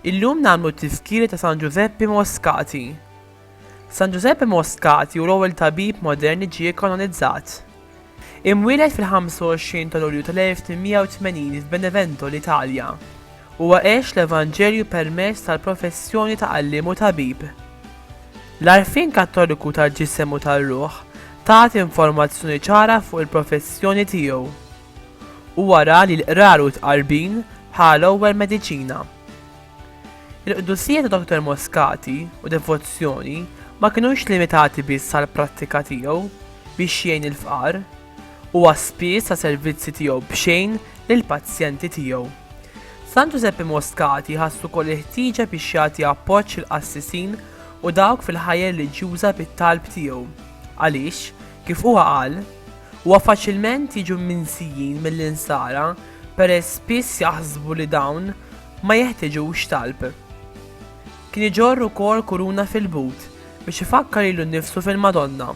Illum nagħmlu t-tiskiri ta' San Ġużeppi Moskati. San Ġużeppi Moskati u l-ewwel tabib moderni ġie kanonizzat. Imwieled fil-25 ta' Lulju tal-1880 f'Benevento, l-Italja, huwa għex l-evanġelju permezz tal-professjoni ta' għalliem u tabib. L-għarfien Kattoliku tal-ġisem u tar-ruħ tat informazzjoni ċara fuq il-professjoni tiegħu. Huwa ra li l-qrar u t-tqarbin bħala l-ewwel mediċina. Il-qdusija ta' Dottor Moscati u devozzjoni ma kinux limitati biss għall-prattika tiegħu biex jgħin il-fqar, huwa spiss ta servizzi tiegħu b'xejn lill-pazjenti tiegħu. San Ġużeppi Moscati ħass ukoll il-ħtieġa biex jagħti appoġġ lill-qassisin u dawk fil-ħajja reliġjuża bit-talb tiegħu, għaliex, kif huwa qal, huwa faċilment jiġu mminsijin mill-insara peress spiss jaħsbu li dawn ma jeħtiġux talb. Kien iġorr ukoll kuruna fil-but biex ifakkar lilu nnifsu fil-Madonna,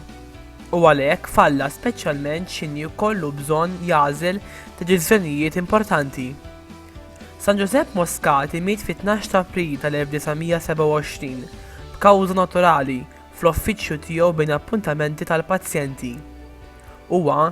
u għalhekk falla speċjalment x'inhi jkollu bżonn jagħżel deċiżjonijiet importanti. San Ġużepp Moscati miet fit-tnax ta' April tal-1927 b'kawża naturali fl-offiċċju tiegħu bejn appuntamenti tal-pazjenti. Huwa